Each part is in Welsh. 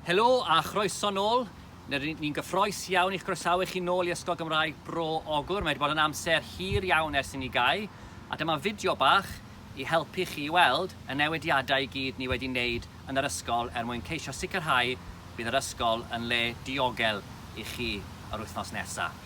Helo a chroeso nôl. Ni'n gyffroes iawn i'ch groesawu chi nôl i Ysgol Gymraeg Bro Ogwr. Mae wedi bod yn amser hir iawn ers i ni gau, a dyma fideo bach i helpu chi i weld y newidiadau i gyd ni wedi wneud yn yr ysgol er mwyn ceisio sicrhau bydd yr ysgol yn le diogel i chi yr wythnos nesaf.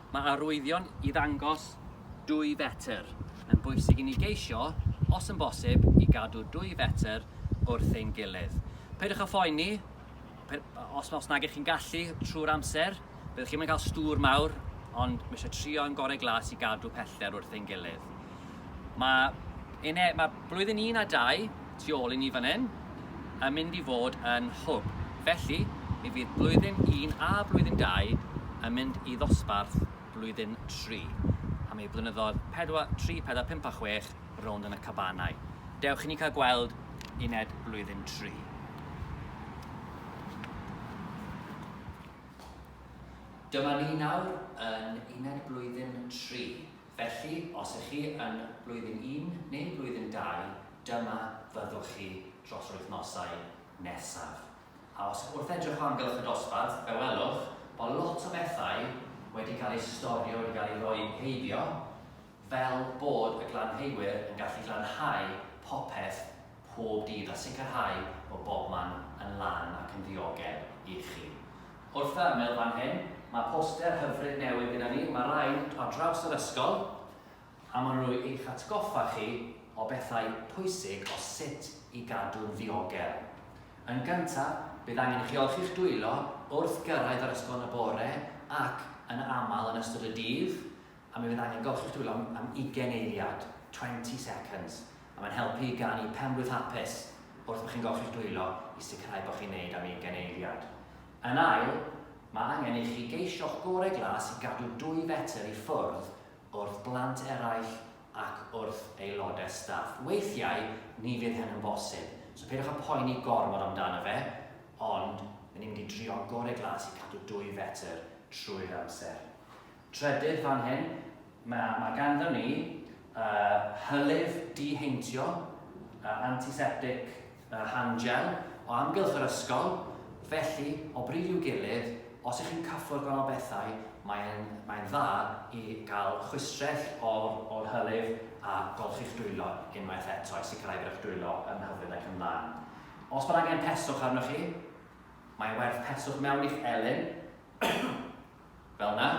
Mae arwyddion i ddangos dwy fetr. Mae'n bwysig i ni geisio, os yn bosib, i gadw dwy fetr wrth ein gilydd. Peidiwch â phoeni os, os nag ych chi'n gallu trwy'r amser, byddwch chi'n cael stŵr mawr, ond mae eisiau trio yn gorau glas i gadw pellter wrth ein gilydd. Mae, yn e, mae blwyddyn un a dau tu ôl i ni fan hyn yn mynd i fod yn hwb. Felly, mi fydd blwyddyn un a blwyddyn dau yn mynd i ddosbarth blwyddyn tri. A mae blynyddoedd 4, 3, 4, 5 a 6 rownd yn y cabanau. Dewch i ni cael gweld uned blwyddyn tri. Dyma ni nawr yn uned blwyddyn tri. Felly, os ych chi yn Blwyddyn Un neu Blwyddyn Dau, dyma fyddwch chi dros yr wythnosau nesaf. A os, wrth edrych o amgylch y dosbarth, fe welwch bod lot o bethau wedi cael eu storio, wedi cael eu rhoi heibio, fel bod y glanheuwyr yn gallu glanhau popeth pob dydd a sicrhau bod bobman yn lan ac yn ddiogel i chi. Wrth fy ymyl fan hyn, mae poster hyfryd newydd gyda ni, mae rhai ar draws yr ysgol, a maen nhw i'ch atgoffa chi o bethau pwysig o sut i gadw'n ddiogel. Yn gyntaf, bydd angen i chi olchi'ch dwylo wrth gyrraedd yr ysgol yn y bore ac yn aml yn ystod y dydd, a mi fydd angen golchi'ch dwylo am ugain eiliad, twenty seconds, a mae'n helpu i ganu penblwydd hapus wrth bo chi'n golchi'ch dwylo i sicrhau bo chi'n neud am ugain eiliad. Yn ail, mae angen i chi geisio'ch gore glas i gadw dwy fetr i ffwrdd wrth blant eraill ac wrth aelodau staff. Weithiau, ni fydd hyn yn bosib, so peidiwch â poeni gormod amdano fe, ond 'yn ni'n mynd i drio'n gore glas i cadw dwy fetr trwy'r amser. Trydydd fan hyn, mae ma' ganddon ni uh, hylif diheintio, uh, antiseptic uh, hand gel, o amgylch yr ysgol, felly o bryd i'w gilydd, os ych chi'n cyffwrdd gwahanol bethau, mae'n mae dda i gael chwistrell o'r, or hylif a golchi'ch dwylo unwaith eto i sicrhau bod eich dwylo yn hyfryd ac yn lan. Os bod angen peswch arnoch chi, mae werth peswch mewn i'ch elyn, Fel 'na,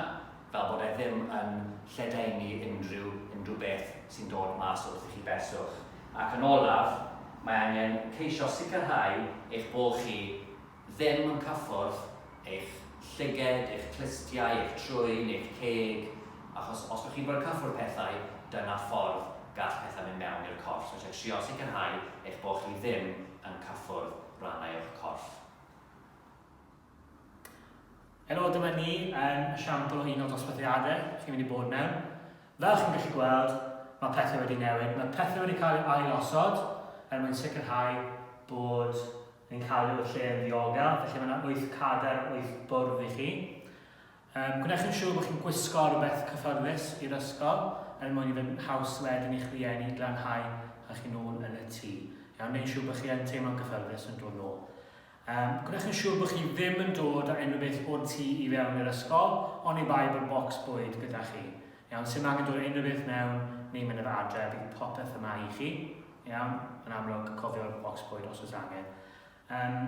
fel bod e ddim yn lledaenu unrhyw unrhyw beth sy'n dod mas wrth i chi beswch. Ac yn olaf, mae angen ceisio sicrhau eich bod chi ddim yn cyffwrdd eich llyged, eich clustiau, eich trwyn, eich ceg, achos os bod chi'n bod yn cyffwrdd pethau, dyna ffordd gall pethau mynd mewn i'r corff. So eisiau trio sicrhau eich bod chi ddim yn cyffwrdd rhannau o'ch corff. Helo, dyma ni yn siampl o un o dosbarthiadau chi'n mynd i bod mewn. Fel chi'n gallu gweld, mae pethau wedi newid. Mae pethau wedi cael eu ailosod er mwyn sicrhau bod yn cael eu lle yn ddiogel, felly mae yna 8 cadar, 8 bwrdd i chi. Um, gwnewch yn siŵr bod chi'n gwisgo rhywbeth cyffyrddus i'r ysgol er mwyn i fod yn haws wedyn i'ch rhieni glanhau a chi'n ôl yn y tŷ. Iawn, neu'n siŵr bod chi yn teimlo'n gyffyrddus yn dod nôl. Yym, gwnewch yn siŵr bod chi ddim yn dod â unrhyw beth o'r tŷ i fewn i'r ysgol, oni bai bod bocs bwyd gyda chi. Iawn, s'im angen dod â unrhyw beth mewn neu mynd â fe adre, bydd popeth yma i chi. Iawn, yn amlwg, cofio'r bocs bwyd os oes angen. Yym,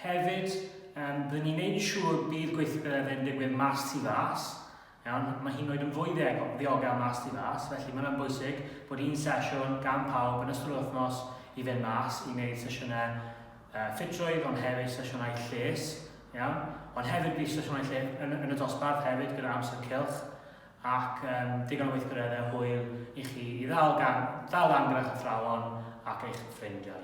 hefyd, yym, byddwn ni'n neud yn siŵr bydd gweithgareddau'n digwydd mas tu fas, Iawn, mae hyd yn oed yn fwy ddiog- ddiogel mas tu fas, felly mae hwnna'n bwysig bod un sesiwn gan pawb yn ystod yr wythnos i fynd mas i wneud sesiynau uh, ffitrwydd ond hefyd sesiynau lles, iawn? Ond hefyd bydd sesiynau lle yn, yn y dosbarth hefyd gyda amser cilch ac um, digon o weithgareddau hwyl i chi i ddal, gan, ddal lan gyda'ch athrawon ac eich ffrindiau.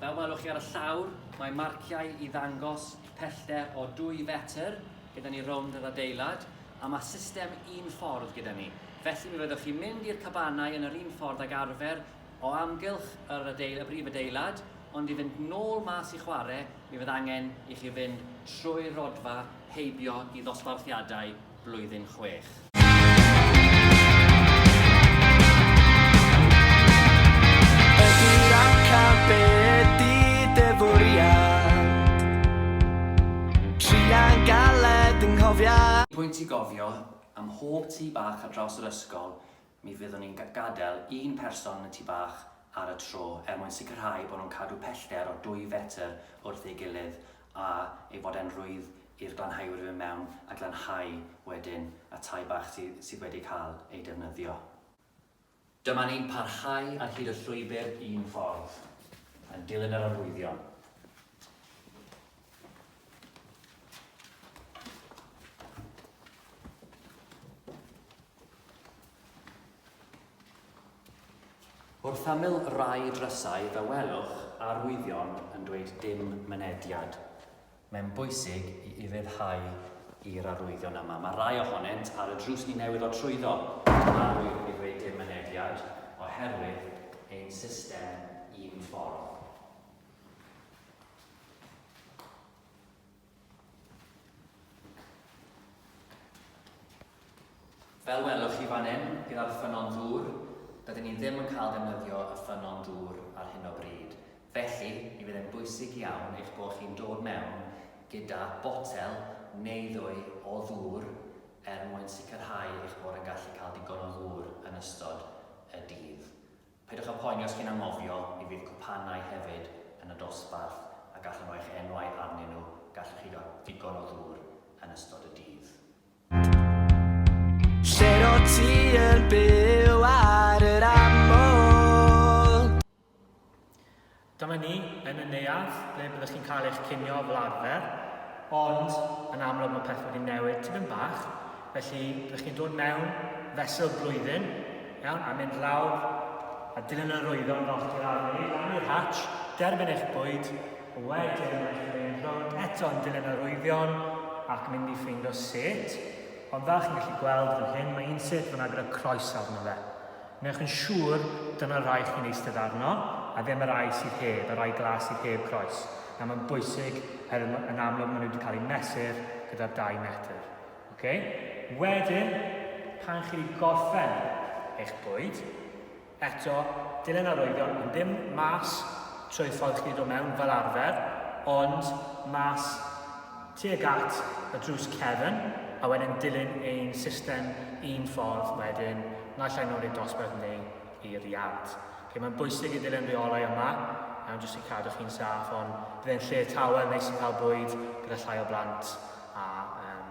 Fel welwch chi ar y llawr, mae marciau i ddangos pellter o dwy fetr gyda ni rownd yr adeilad, a mae system un ffordd gyda ni. Felly mi fyddwch chi'n mynd i'r cabanau yn yr un ffordd ag arfer o amgylch yr adeil- y brif adeilad, ond i fynd nôl mas i chwarae, mi fydd angen i chi fynd trwy'r rhodfa heibio i ddosbarthiadau blwyddyn chwech. Pwynt i gofio, ym mhob tŷ bach ar draws yr ysgol, Mi fyddwn ni'n gadael un person yn y tŷ bach ar y tro er mwyn sicrhau bod nhw'n cadw pellter o dwy fetr wrth ei gilydd a ei fod e'n rwydd i'r glanhauwyr fynd mewn a glanhau wedyn y tai bach sydd sydd wedi cael ei defnyddio. Dyma ni'n parhau ar hyd y llwybr un ffordd, yn dilyn yr arwyddion. Wrth ymyl rai drysau fe welwch arwyddion yn dweud dim mynediad. Mae'n bwysig i ufuddhau i'r arwyddion yma. Mae rhai ohonynt ar y drws ni newydd o trwyddo yn arwydd i ddweud dim mynediad oherwydd ein system un ffordd. Fel welwch chi fan hyn, gyda'r ffynnon ddŵr, dydyn ni ddim yn cael defnyddio y ffynnon dŵr ar hyn o bryd, felly mi fydd e'n bwysig iawn eich bod chi'n dod mewn gyda botel neu ddwy o ddŵr er mwyn sicrhau eich bod yn gallu cael digon o ddŵr yn ystod y dydd. Peidiwch â phoeni os chi'n anghofio, mi fydd cwpanau hefyd yn y dosbarth a gallwn roi'ch enwau arnyn nhw, gallwch chi gael digon o ddŵr yn ystod y dydd. Lle rot ti yn byw ar yr aml? Dyma ni yn y neuadd ble byddwch chi'n cael eich cinio fel arfer, ond yn amlwg mae pethau wedi newid tipyn bach, felly byddwch chi'n dod mewn fesul blwyddyn, iawn, a mynd lawr a dilyn yr oeddan yn oll i'r arni, lan i'r hatch, derbyn eich bwyd, a wedyn mae chi'n mynd rownd eto yn dilyn yr oeddion ac mynd i ffeindio set, ond fel chi'n gallu gweld fan hyn mae un set fyna gyda croes arno fe. Wnewch yn siŵr dyna'r rai chi'n eistedd arno, a ddim y rai sydd heb, y rai glas sydd heb groes. Nawr mae'n bwysig, oherwydd ma- yn amlwg maen nhw wedi cael eu mesur gyda'r dau metr. Ocê? Wedyn, pan chi wedi gorffen eich bwyd, eto, dilyn arwyddion, ond ddim mas trwy'r ffordd chi wedi dod mewn fel arfer, ond mas tuag at y drws cefn a wedyn dilyn ein system un ffordd wedyn naill ai nôl i'r dosbarth neu i'r iard. Ok, mae'n bwysig i ddilyn rheolau yma, iawn, jyst i cadw chi'n saff, ond bydd e'n lle tawel neis i cael bwyd gyda llai o blant a um,